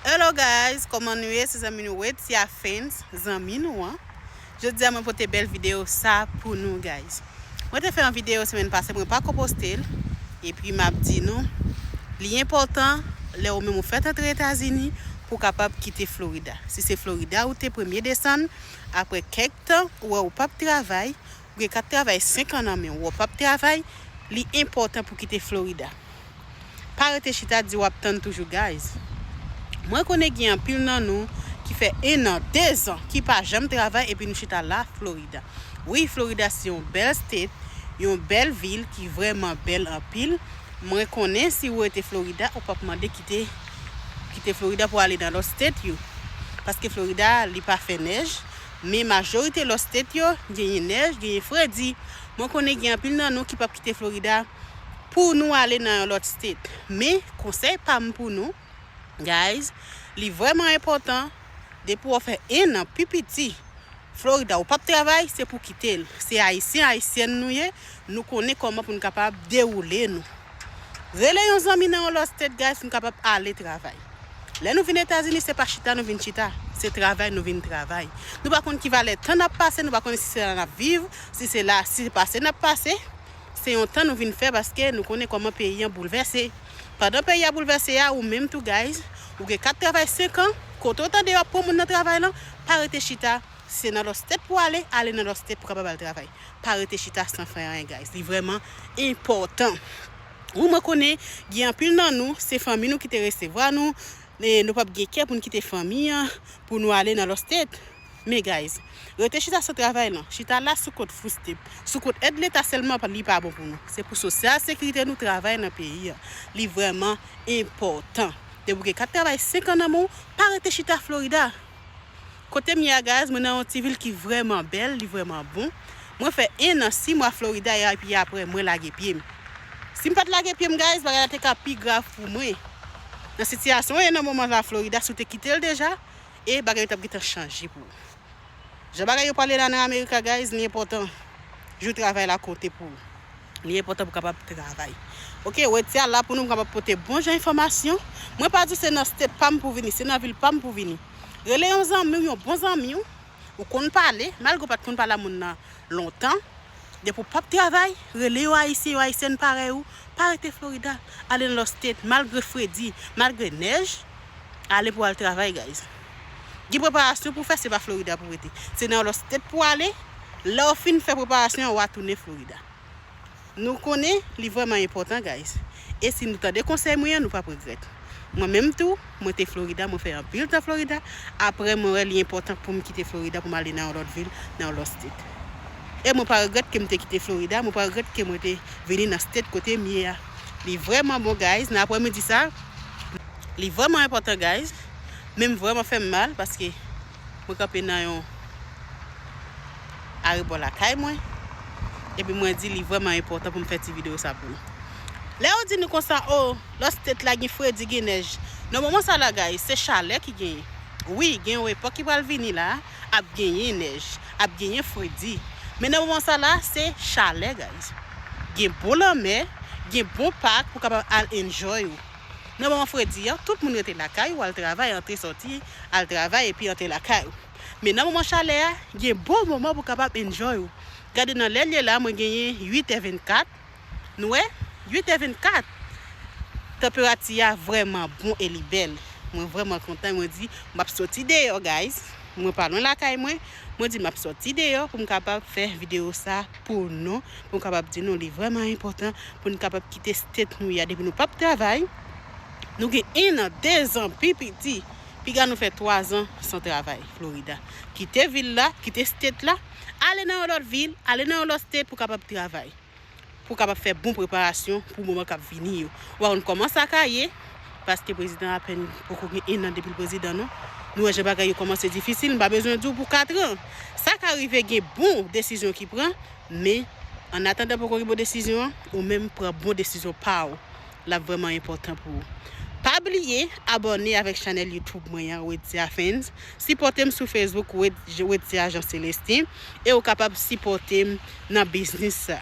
Hello guys koman nou ye se zanmi nou Wetia Fans zanmi nou an jodia mwen pote bèl video sa pou nou guys mwen te fè yon video semèn pase mwen pako postel epi map di nou li enpòtan lè ou menm ou fèt antre etazini pou kapab kite Florida si se Florida ou te premye desann apre kèk tan ou wè ou pap travay Ou gen kat travay 5 an nan menw wap pap travay li enpòtan pou kite Florida pa rete chita di wap tann toujou guys mwen konnen gen anpil nan nou ki fè 1 an 2 zan ki pa janm travay epi nou chita la Florida wi Florida se yon bèl state yon bèl vil ki vrèman bèl anpil mwen konnen si ou rete Florida ou pap mande kite kite Florida pou ale nan lòt state yo paske Florida li pa fè nèj Men majorite lòt state yo genyen nèj, genyen fredi. Mwen konnen gen anpil nan nou ki pap kite Florida pou nou ale nan yon lòt state. Men konsèy pam pou nou guys li vrèman enpòtan depi wap fè 1 an pi piti Florida ou pap travay se pou kitel. Se ayisyen ayisyèn nou ye Nou konnen koman pou nou kapab dewoule nou. Rele yon zanmi nan yon lòt state guys pou nou kapab ale travay. Lè nou vin etazini se pa chita nou vin chita, se travay nou vin travay. Nou pa konn ki valè tan nap pase, nou pa konnen si se la nap viv, si se la, si se pase nap pase. Se yon tan nou vin fè paske nou konnen koman peyi an boulvèse. Pandan peyi a boulvèse a, ou menm tou guys, ou gen kat travay 5 an, kote ou tande yo ap pran moun nan travay lan, pa rete chita, Se nan los tep pou ale, ale nan los tep pou kapab al travay. Pa rete chita san fè anyen guys. Li vreman enpotan. Wi mwen konnen gen anpil nan nou se fanmi nou ki te resevwa nou, men nou pap gen kè pou nou kite fanmi an pou nou ale nan los tep. Men guys, rete chita san travay lan, chita la sou kont food stamp, sou kont èd leta selman li pa bon pou nou. Se pou sosyal sekirite nou travay nan peyi an. Li vreman enpotan. Depi ou gen kat travay 5 an nan men w, pa rete chita Florida. Kotem ye a guys mwen nan yon ti vil ki vrèman bèl li vrèman bon mwen fè 1 an 6 mwa Florida ya epi aprè mwen lage pyem sim pat lage pyem guys bagay la te ka pi grav pou mwen nan sitiyasyon ye nan moman sa Florida si w te kitel deja e bagay yo tap gentan chanje pou ou jan bagay yo pale la nan America guys li enpòtan jou travay la konte pou ou. Li enpòtan pou kapab travay. Ok, Wetya la pou nou kapab pote bon jan enfòmasyon. Mwen pa di se nan state pam pou vini, se nan vil pam pou vini. Rele yon zanmiw, yon bon zanmiw, ou konn pale, malgre ou pat konn pale a moun nan lontan, depi ou pap travay, rele yon ayisyen, yon ayisyèn parèy ou, pa rete Florida, ale nan lòt state, malgre fredi, malgre nèj, ale pou al travay guys. Gen preparasyon pou fè se pa Florida pou rete. Se nan lòt state pou ale, lè ou fin fè preparasyon an wa tounen Florida. Nou konnen li vrèman enpòtan guys. E si nou tande konsèy mwen an nou pap regrèt. Mwen menm tou, mwen te Florida, mwen fè anpil tan Florida, aprè mwen wè li enpòtan poum kite Florida poum ale nan yon lòt vil, nan yon lòt state. E mwen pa regrèt kem te kite Florida, mwen pa regrèt ke mwen te vini nan state kotem ye a. Li vrèman bon guys nan aprè midi sa, li vrèman enpòtan guys. Men m vrèman fè m mal paske mwen kanpe nan yon arebò lakay mwen epi mwen di li vrèman enpòtan pou m fè ti videyo sa pou nou. Lè yo di nou konsa o lòt state la gen fredi gen nèj nan moman sa la guys se chalè ki genyen wi gen yon epòk ki pral vini la ap genyen nèj ap genyen fredi men nan moman sa la se chalè guys gen bon lanmè gen bon pak pou kapab al enjoy ou. Nan moman fredi an, tout moun rete lakay ou al travay, antre sòti, al travay epi antre lakay ou. Men nan moman chalè a, gen bon moman pou kapab enjoy ou. Gade nan lè l ye la mwen genyen 8 è 24, nou wè? 8 è 24! Tanperati a vrèman bon e li bèl. Mwen vrèman kontan e mwen di m ap sòti deyò guys, mwen pa lwen lakay mwen, mwen di m ap sòti deyò pou m kapab fè videyo sa. pou nou, pou m kapab di nou li vrèman enpòtan pou n kapab kite state nou ya depi nou pap travay, nou gen 1 an, 2 zan pi piti, piga nou fè 3 zan san travay Florida. Kite vil la, kite state la, ale nan yon lòt vil, ale nan yon lòt state pou kapab travay, pou kapab fè bon preparasyon pou moman kap vini yo. Ou pa konn kòman sa ka ye. Paske prezidan apèn poko gen 1 an depil prezidan non. Nou wè jan bagay yo kòmanse difisil, m pa bezwen di w pou 4 an. Sa ka rive gen bon desizyon ki pran, men an atandan poko gen bon desizyon an, ou menm pran bon desizyon pa w. L ap vrèman enpòtan pou ou. Pa bliye abòne avèk chanèl YouTube mwen an Wedthia Fans, sipòte m sou Facebook Wedthia Jean Celestin e ou kapab sipòte m nan biznis sa.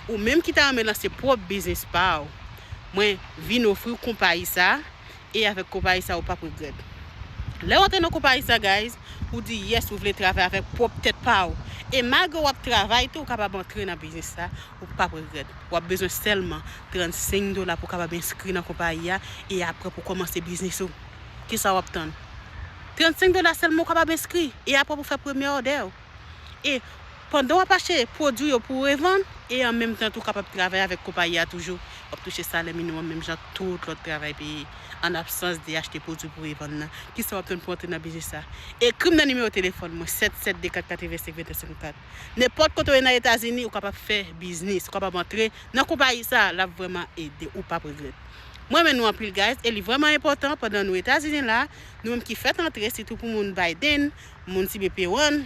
Ou menm ki ta renmen lanse pwòp biznis pa w, mwen vin ofri w konpayi sa e avèk konpayi sa ou pap regrèt. Lè w antre nan konpayi sa guys, ou di yes ou vle travay avèk pwòp tèt pa w e malgre wap travay tou ou kapab antre nan biznis sa ou pap regrèt. Wap bezwen sèlman 35 dola pou kapab enskri nan konpayi a e aprè pou kòmanse biznis ou. Kisa wap tann? 35 dola sèlman ou kapab enskri e aprè pou fè premye òdè w. E pandan w ap achte pwodui yo pou revann, e an menm tan tou w kapab travay avèk konpayi a toujou, w ap touche salè miniwòm menm jan ak tout lòt travay peye, an absans de achte pwodui pou revann nan. Kisa w ap tann pou w antre nan biznis sa? Ekri m nan nimewo telefòn mwen, 772-485-2154. Nenpòt kote w ye nan Etazini, ou kapab fè biznis, ou kapab antre nan konpayi sa, l ap vrèman ede w, ou pap regrèt. Mwen renmen nou anpil guys e li vrèman enpòtan pandan nou Etazini la, nou menm ki fèt antre sitou pou moun Biden, moun ti be peron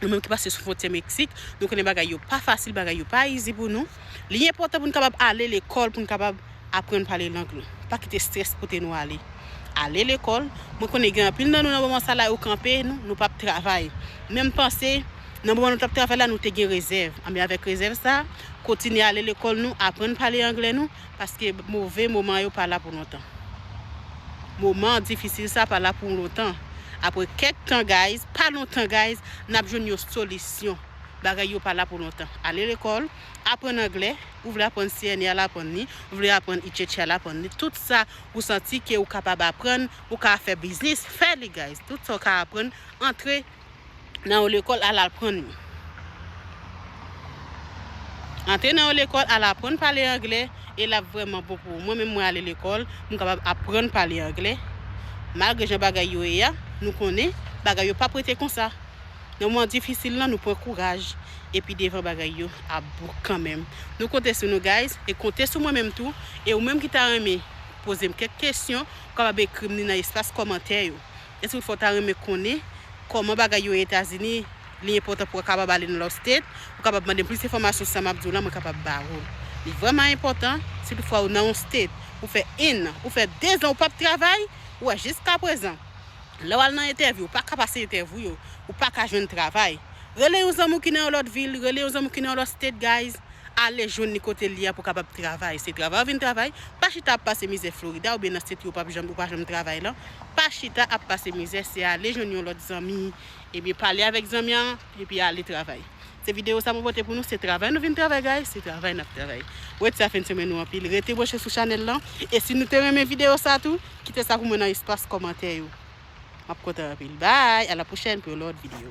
nou menm ki pase sou fontyè meksik nou konnen bagay yo pa fasil bagay yo pa izi pou nou li enpòtan pou nou kapab ale lekòl pou nou kapab aprann pale lang nou pa kite strès pote nou ale ale lekòl mwen konnen gen anpil nan nou nan moman sa la yo kanpe nou nou pap travay menm panse nan moman nou tap travay la nou te gen rezèv anben avèk rezèv sa kontinye ale lekòl nou aprann pale anglè nou. Paske move moman yo pa la pou lontan. Moman difisil sa pa la pou lontan. Apre kèk tan guys, pa lontan guys, nap jwenn yon solisyon. Bagay yo pa la pou lontan. Ale lekòl, aprann anglè, ou vle aprann CNE al aprann li, ou vle aprann ICC al aprann li, tout sa ou santi ke ou kapab aprann, ou ka fè biznis, fè li guys. Tout sa ou ka aprann, antre. nan yon lekòl al aprann li. Antre nan yon lekòl al aprann pale anglè e l ap vrèman bon pou ou. Mwen menm mwen ale lekòl, m kapab aprann pale anglè. Malgre jan bagay yo ye a, nou konnen bagay yo pap rete konsa. Nan moman difisil lan nou pran kouraj epi devan bagay yo ap bon kanmenm. Nou konte sou nou guys e konte sou mwen menm tou e ou menm ki ta renmen poze m kèk kesyon ou kapab ekri m ni nan espas kòmantè yo. Eske ou fè ou ta renmen konnen kòman bagay yo etazini li enpòtan pou kapab ale nan lòt state ou kapab mandem plis enfòmasyon sa map diw la mwen kapab ba ou li vrèman enpòtan si tout fwa ou nan yon state ou fè 1 an ou fè 2 zan ou pap travay ou wè jiska prezan lè wal nan entèvyou ou paka pase entèvyou yo ou paka jwenn travay rele yon zanmi ou ki nan yon lòt vil rele yon zanmi ou ki nan yon lòt state guys. Ale jwenn li kote li a pou kapab travay se travay ou vin travay pa chita ap pase mizè Florida oubyen nan state ou pap janm ou pa janm travay lan pa chita ap pase mizè se ale jwenn yon lòt zanmi ebyen pale avèk zanmi an epi ale travay se video sa mwen pote pou nou se travay nou vin travay guys se travay nap travay wet sa fen semen nou anpil rete branche sou chanèl lan e si nou te renmen video sa tou kite sa pou mwen nan espas kòmantè yo map kontan anpil bye a la pwochèn pou yon lòt video.